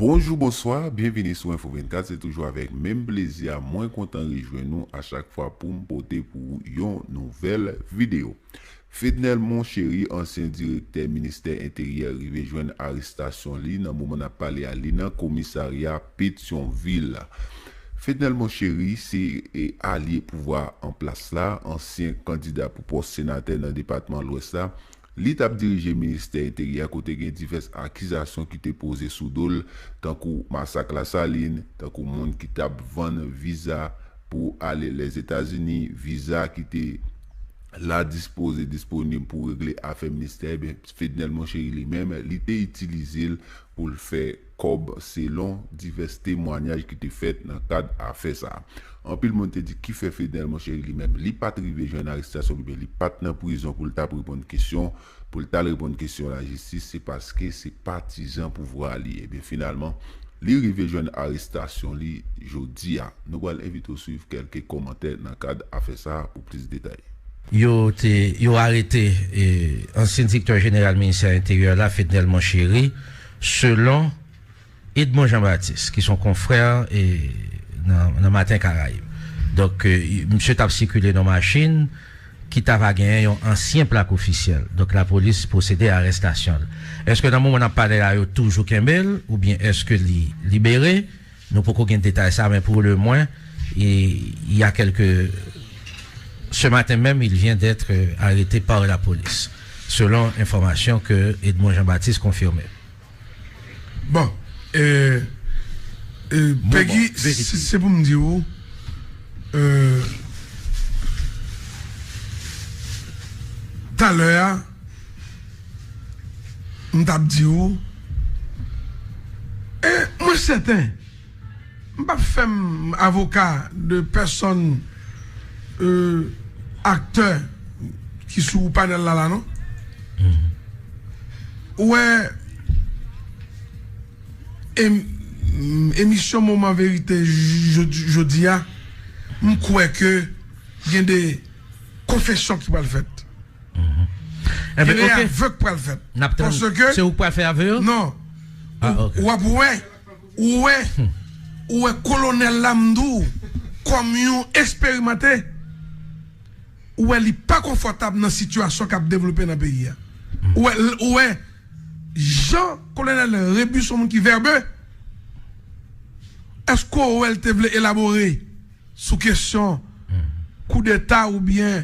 Bonjou bonswa byenvini sou info 24 se toujou avèk menm plezi a mwen kontan rejwenn ou a chak fwa poum pote pou ou yon nouvèl video. Fednel Monchéry, ansyen direktè ministè enteryè rive jwenn arestasyon li nan moman nap pale a li nan komisarya Petyonvil. Fednel Monchéry se alye pouvwa an plas la, ansyen kandida pou pòs senatè nan depatman lwès la, li tap dirije ministè enteryè kote gen divès akizasyon ki te poze sou dol tankou masak lasalin, tankou moun ki tap vann viza. pou ale Lèzetazini, viza ki te la dispoze disponib pou regle afè ministè, ebyen Fednel Monchery li menm, li te itilize l pou l fè kòb selon divès temwanyaj ki te fèt nan kad afè sa. Anpil moun te di ki fè Fednel Monchery li menm li pa t rive jwenn arestasyon li oubyen li pa t nan prizon pou l t ap reponn kesyon, pou l t al reponn kesyon lajistis se paske se patizan pouvwa a li ye. Ebyen finalman li rive jwenn arestasyon li jodi a. Nou pral envite w swiv kèlke kòmantè nan kad afè sa pou plis detay. Yo te yo arete ansyen direktè jeneral ministè enteryè la Fednel Monchéry selon. Edmond Jean Baptiste ki son konfrè e nan Matin Caraïbes. Donk misye tap sikile nan yon machin ki ta va genyen yon ansyen plak ofisyèl. Donk lapolis pwosede a arestasyon l. Eske nan moman nap pale la yo toujou kenbe l oubyen eske li libere? Nou poko gen detay sa men pou le mwen il ya kelke ce matin menm il vient d'etre arete par lapolis selon enfòmasyon ke Edmond Jean Baptiste konfime. Bon Pegi se pou m di ou Talè a M tap di ou Mwen sèten M pap fèm avoka de pèsòn aktè ki sou panèl la la non. Ou wè emisyon moman verite jodi a m kwè ke gen de konfesyon ki pral fèt. Gen de aveu k pral fèt. Paske ke non ou ap wè. Ou wè ou wè kolonel la m di w kòm yon eksperimante ou wè li pa konfòtab nan sitiyasyon kap devlope nan peyi a ou wè ou wè jan kolonel Rebu son moun ki vèbe èske ou wè l te vle elabore sou kesyon koudeta oubyen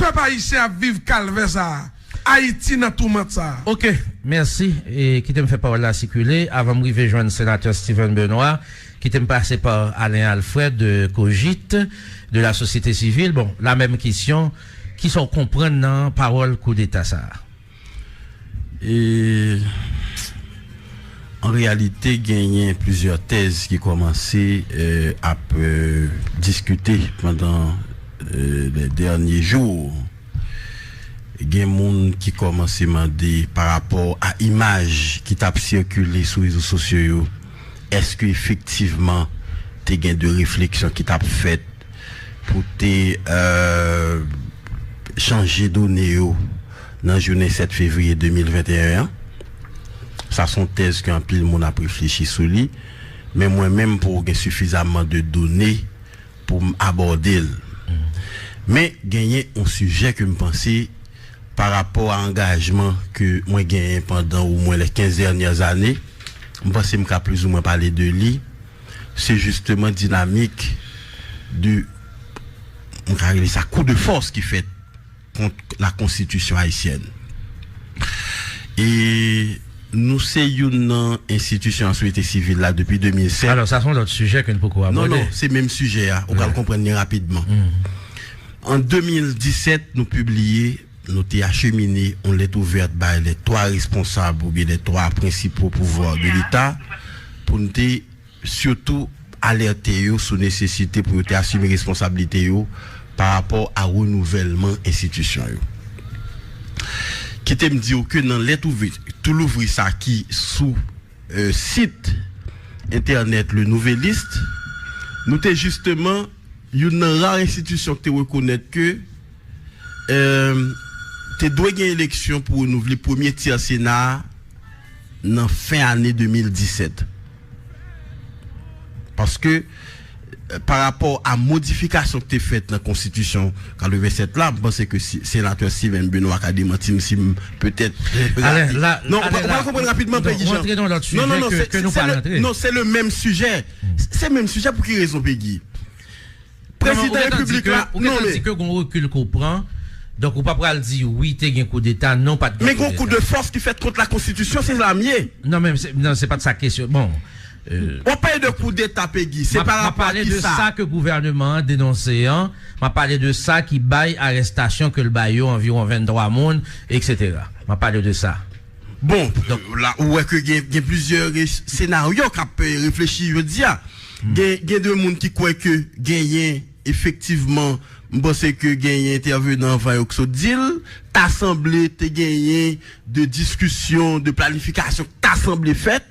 Pèp ayisyen ap viv kalvè sa a, Ayiti nan toumant sa a. Ok, mèsi. Kite m fè pawòl la sikile avan m rive jwenn Senatè Steven Benoît. Kite m pase pa Alain Alfred de Cogit, de la Société Civile. Bon, lamenm kesyon, kisa w konprann nan pawòl koudeta sa a? E an reyalite genyen plizyè tèz ki kòmanse ap diskite pandan lè dènye jou. Gen moun ki kòmanse mande pa rapò a imaj ki t ap sikile sou rezo sosyo yo, èske efektivman te gen de refleksyon ki t ap fèt pou te chanje done yo? nan jounen 7 fevriye 2021 an. Sa s on tèz ke anpil moun ap reflechi sou li, men mwen menm pou w gen sifizamman de done pou m abòde l. Men genyen on sijè ke m panse pa rapò a angajman ke mwen genyen pandan o mwen les 15 dènyè zane, m panse m ka plizoumwen pale de li, se jisteman dinamik de, m ka rele sa kou de fòs ki fèt. kont la konstitisyon ayisyèn e nou se youn nan enstitisyon a soyete sivil la depi 2007. Alò sa se yon lòt sijè ke n poko abòde. Non non, se menm sijè a, ou pral konprann li rapidman. An 2017 nou pibliye, nou te achemine yon lèt ouvèt bay lè 3 responsab oubyen lè 3 prensipo pouvwa de leta pou n te. sitou alète yo sou nesesite pou yo te asime responsablite yo pa rapò a renouvèlman enstitisyon yo. Kite m di w ke nan lèt ouvri tou louvri sa ki sou sit entènèt Le Nouvelliste, nou te jisteman youn nan ra enstitisyon ki te rekonèt ke te dwe gen eleksyon pou renouvle premye tyè Sena a nan fen ane 2017. Paske, pa rapò a modifikasyon ki te fèt nan konstitisyon 87 la, m panse ke Senatè Steven Benoit ka demanti m si m petèt rate. Non, ou pa konprann rapidman, Pegi Jean. Rantre nan lòt sijè ke nou pa rantre. Non, se le menm sijè. Se menm sijè pou ki rezon, Pegi? Prezidan Repiblik la nonmen. Ou gentan di ke gon rekil ke w pran, donk ou pa pral di wi te gen koudeta, non pat gen koudeta. Men gon kou de fòs ki fèt kont lakonstitisyon, se sa m ye. Non men, non se pat sa kesyon, bon. W ap pale de koudeta Pegi, se pa rapò a kisa? M ap pale de sa ke gouvèneman an denonse an, m ap pale de sa ki bay arestasyon ke l bay yo anviwon 23 moun, eksetera. M ap pale de sa. Bon, la ou wè ke gen plizyè senaryo k ap reflechi jodi a. Gen de moun ki kwè ke genyen efektivman, m panse ke genyen entèvenan anvan yo ki sot di l, ta sanble te genyen de diskisyon, de planifikasyon ki ta sanble fèt,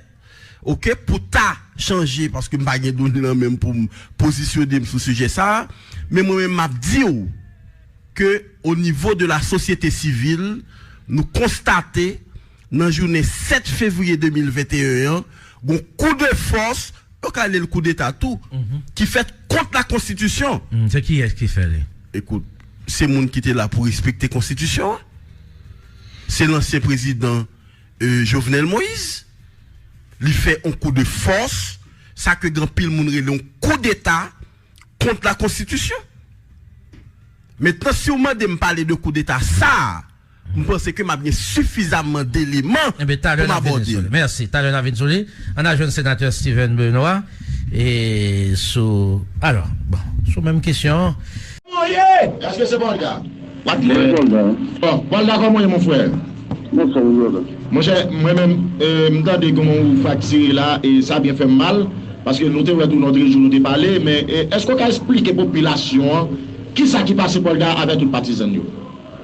ok, pou ta chanje, paske m pa gen done lan menm pou m pozisyone m sou sijè sa a, men mwen menm m ap di w ke o nivo de la sosyete sivil nou konstate. Nan jounen 7 fevriye 2021 an, gon kou de fòs, yo ka rele l kou deta tou, ki fèt kont la konstitisyon. Hum, se kiyès ki fè li? Ekout, se moun ki te la pou respekte konstitisyon an. Se lansyen prezidan Jovenel Moïse. Li fè on kou de fòs, sa ke anpil moun rele on kou deta kont la konstitisyon. Mentnan si w mande m pale de kou deta sa a, M panse ke m ap gen sifizamman d'eleman pou m abòde l. Mèsi. Talè n ap vin sou li. An n al jwenn Senatè Steven Benoît e sou alò, bon, sou menm kesyon an. Kòman w ye? Eske se Valda? Wap di mwen Valda. Bon, Valda kòman w ye mon frè? Mwen fòm wi Valda. Monchè, mwen menm, m tande kòman w fraktire la e sa byen fè m mal paske nou te wè tou lòtrejou nou te pale men eske w ka esplike popilasyon an kisa ki pase Valda avè tout patizan l yo?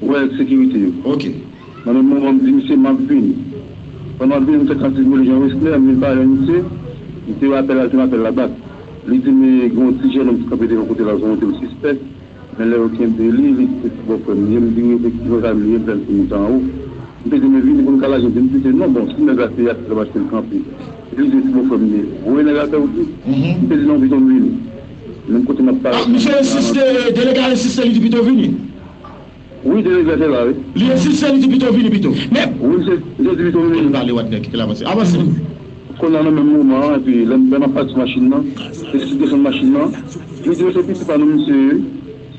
Ou wè nèg sekirite yo. Ok. Nan menm moman m di misye m ap vini. Pandan m ap vini m fè tann ti vole Jean Wesner, m vin pale ak misye. M te rapèl al, te m apèl la bak. Li di m gen yon ti jènonm ki kanpe devan kote l ap zanmi tou l sispèk. Men lè yo kenbe li, li di se ti bòfrè m li ye. M di wi efektivman sa m li ye, m fè l konnen tan anwo. M te di men vini pou n ka lage m di m kite non. Bon si nèg la se Yassy l ap achte l kanpe. Si li di se ti bòfrè m li ye, voye nèg la fè wout li. M te di non pito m vini. Menm kote m ap pale ak moun nan. Misye ensiste, delege a ensiste li di pito vini. Wi se nèg la te la wi. Li ensiste li di pito vini pito. Men. Wi se li di pito vini. Li pale wè nèg ki te la avanse avanse. Konnya nan menm moman an epi lè lè map pale sou machin nan epi sou desann machin nan li di yo se pitit pa nou misye ye wi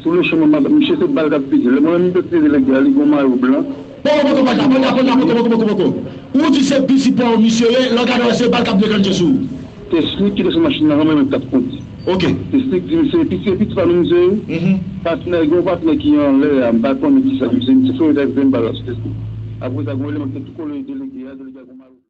sou le chemen map misye se bal kap pete lè mwen menm m pèse lè gè a li gon mayo blan. Pokopoko pa Japon Japon Japon Pokopokopoko Ou di se bizi paw misye ye lè w gade wè se bal kap dekannche sou ou. Se slik ki te sou machin nan anvan menm tap kondi. Ok. Se slik di misye epi se piti pa nou misye ye. Patnè gen yon patnè ki anlè a m pa konnen kisa misye misye foure dèyè m se m bal la sou tèt li. Apresa gen yon eleman ki te tou kole delege a delege a gen yon malouk.